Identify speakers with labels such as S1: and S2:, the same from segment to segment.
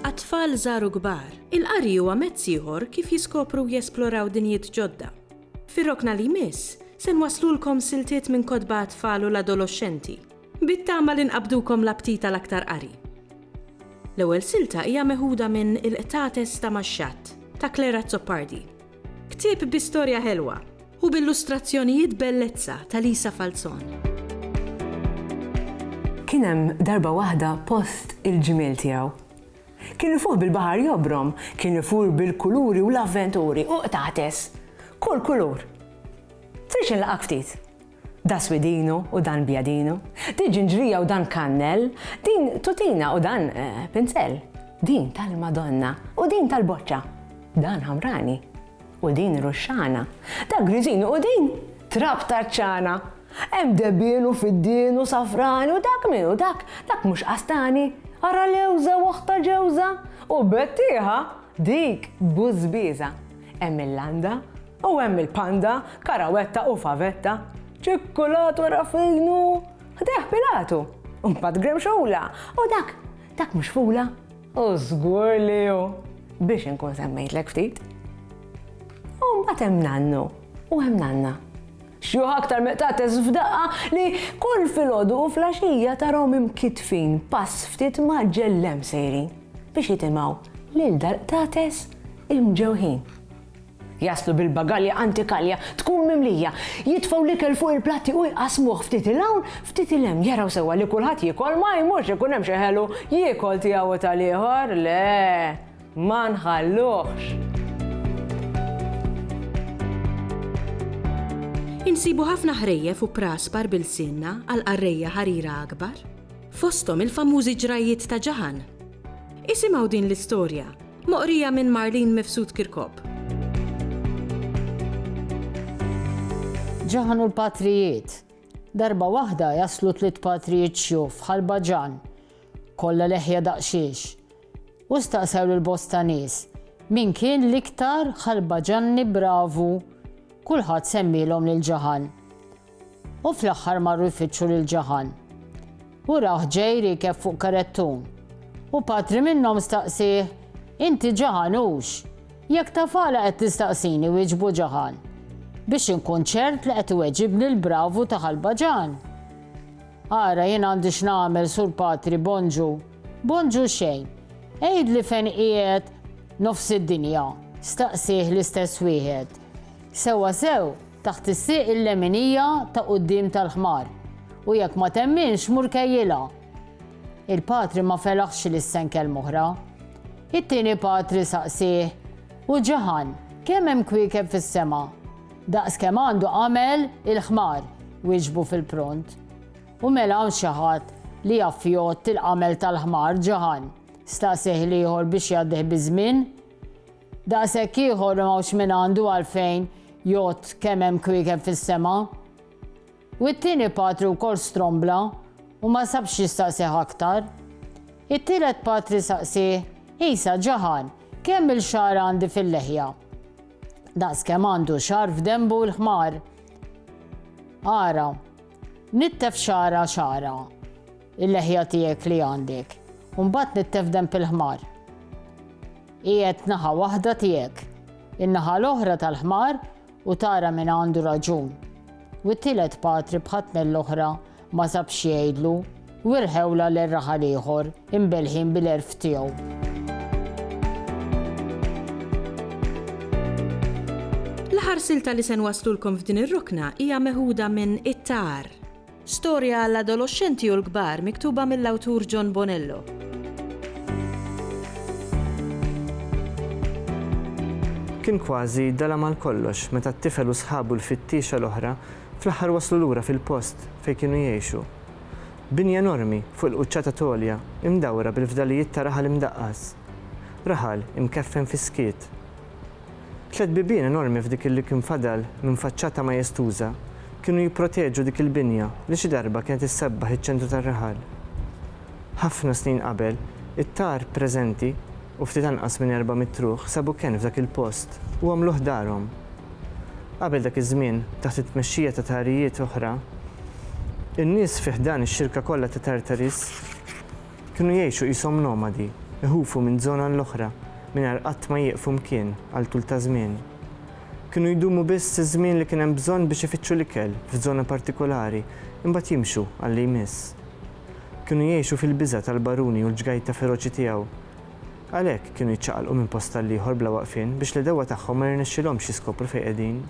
S1: Għat-tfal żgħar u kbar, il-qari huwa mezz ieħor kif jiskopru u jesploraw dinjiet ġodda. Fir-rokna li jmiss, se nwasslulkom siltiet minn kotba għat-tfal u l-adoloxxenti. Bit-tama li nqabbdukom l-aptit għal aktar qari. L-ewwel silta hija meħuda minn Il-qtates ta' max-xatt ta' Claire Azzopardi. Ktieb bi storja ħelwa u b'illustrazzjonijiet bellezza ta' Lisa Falzon.
S2: Kien hemm darba waħda post il-ġmiel tiegħu. Kien ifuħ bil-baħar jobrom, kien ifur bil-kuluri u l-avventuri u qtates. Kull kulur. Tridx inlaqgħek ftit? Da swidinu u dan bjadinu, di ġinġrija u dan kannell, din tutina u dan pinzell, din tal-Madonna u din tal-boċċa, dan ħamrani u din ruxxana, da griżinu u din trab taċ-ċana, hemm debien u fiddien u safrani u dak min u dak, dak mhux qastani, ara lewża u oħtha ġewża u bettieħa! Dik bużbieża. Hemm il-landa u hemm il-panda, karawetta u favetta. Ċikkulat wara f'idnu, ħdejh Pilatu, u mbagħad gremxula, u dak, dak mhux fula? U żgur li hu, biex inkun semmejtlek ftit. U mbagħad hemm nannu u hemm nanna. Xjuħ aktar meqtates f'daqqa li kull filgħodu u fl-għaxija tarahom imkittfin pass ftit mgħaġġel 'l hemm sejrin biex jitimgħu lil dal-qtates imġewħin. Jaslu bil-bagalja antikalja tkun mimlija, jitfgħu l-ikel fuq il-platti u jqassmuh ftit 'il hawn, ftit 'il hemm, jaraw sewwa li kulħadd jiekol, ma jmurx ikun hemm xi ħelu jiekol tiegħu u tal-ieħor, le! Ma nħalluhx!
S1: Insibu ħafna ħrejjef u praspar b'ilsienna għal qarrejja ħarira akbar, fosthom il-famużi ġrajjiet ta' Ġaħan. Isimgħu din l-istorja, moqrija minn Marlene Mifsud Kirkop.
S3: Ġaħan u l-patrijiet. Darba waħda jaslu tliet patrijiet xjuf ħalba ġan. Kollha leħja daqsxiex. U staqsew lil bosta nies, Min kien l-iktar ħalbaġanni bravu? Kulħadd semmielhom lil Ġaħan. U fl-aħħar marru jfittxu lil Ġaħan. U rah ġej riekeb fuq karettun. U patri minnhom staqsieh, Inti Ġaħan hux? Jekk taf għala qed tistaqsini, wieġbu Ġaħan, biex inkun ċert li qed iweġibni l-bravu ta' ħalbaġan. Ara, jien għandi x'nagħmel, Sur Patri, Bonġu, Bonġu xejn. Għidli fejn qiegħed nofs id-dinja, staqsieh l-istess wieħed. Sewwa sew, taħt is-sieq il-leminija ta' quddiem tal-ħmar, u jekk ma temminx mur kejjilha. Il-patri ma felaħx li ssen kelm'oħra. It-tieni patri saqsieh, U ġaħan, kemm hemm kwiekeb fis-sema? Daqs kemm għandu għamel il-ħmar, wieġbu fil-pront. U mela hawn xi ħadd li jaf jgħodd il-qamel tal-ħmar ġaħan? staqsieh l-ieħor biex jgħaddih biż-żmien. Daqshekk ieħor li m'hawnx min għandu għalfejn jgħodd kemm hemm kwiekeb fis-sema. U it-tieni patri wkoll strombla u ma sabx jistaqsih aktar. It-tielet patri saqsieh, Isa ġaħan, kemm-il xagħar għandi fil-leħja? Daqskemm għandu xagħar f'denbu l-ħmar. Ara, Nittef xagħra xagħra, il-leħja tiegħek li għandek, u mbagħad nittef denb il-ħmar. Qiegħed naħa waħda tiegħek, in-naħa l-oħra tal-ħmar u tara min għandu raġun. U t-tielet patri bħat-tnejn l-oħra ma sabx xi jgħidlu. U irħewlha lil raħal ieħor, imbelħin bil-għerf tiegħu.
S1: L-aħħar silta li se nwasslulkom f'din ir-rokna hija meħuda minn It-Tar. Storja għall-adoloxxenti u l-kbar miktuba mill-awtur John Bonello.
S4: Kien kważi dala mal kollox meta t-tifel u sħabu l-fittiexa l-oħra fl-aħħar waslu lura fil-post fejn kienu jgħixu. Bini enormi fuq il-quċċata t'għolja imdawra bil-fdalijiet ta' raħal imdaqqas. Raħal imkeffen fis-skiet. Tliet bibien enormi f'dik li kien fadal minn faċċata majestuża kienu jipproteġu dik il-binja li xi darba kienet issebbaħ iċ-ċentru tar-raħal. Ħafna snin qabel, it-tar preżenti, u ftit anqas minn erba' mitt ruħ sabu kenn f'dak il-post u għamluh darhom. Qabel dak iż-żmien, taħt it-tmexxija ta' tagħrijiet oħra, in-nies fi ħdan ix-xirka kollha ta' Tartarys kienu jgħixu qishom nomadi, iħufu minn żona l-oħra mingħajr qatt ma jieqfu mkien għal tul ta' żmien. Kienu jdumu biss iż-żmien li kien hemm bżonn biex ifittxu l-ikel f'żona partikulari, imbagħad jimxu għal li jmiss. Kienu jgħixu fil-biża' tal-baruni u l-ġgajta feroċi tiegħu. Għalhekk, kienu jiċċaqalqu minn post għall-ieħor bla waqfien biex l-għedewwa tagħhom ma jirnexxilhomx jiskopru fejn qegħdin.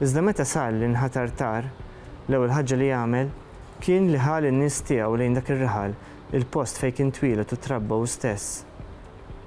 S4: Iżda meta sar li nħatar Tar, l-ewwel ħaġa li għamel kien li ħa lin-nies tiegħu lejn dak ir-raħal, il-post fejn kien twieled u trabba hu stess.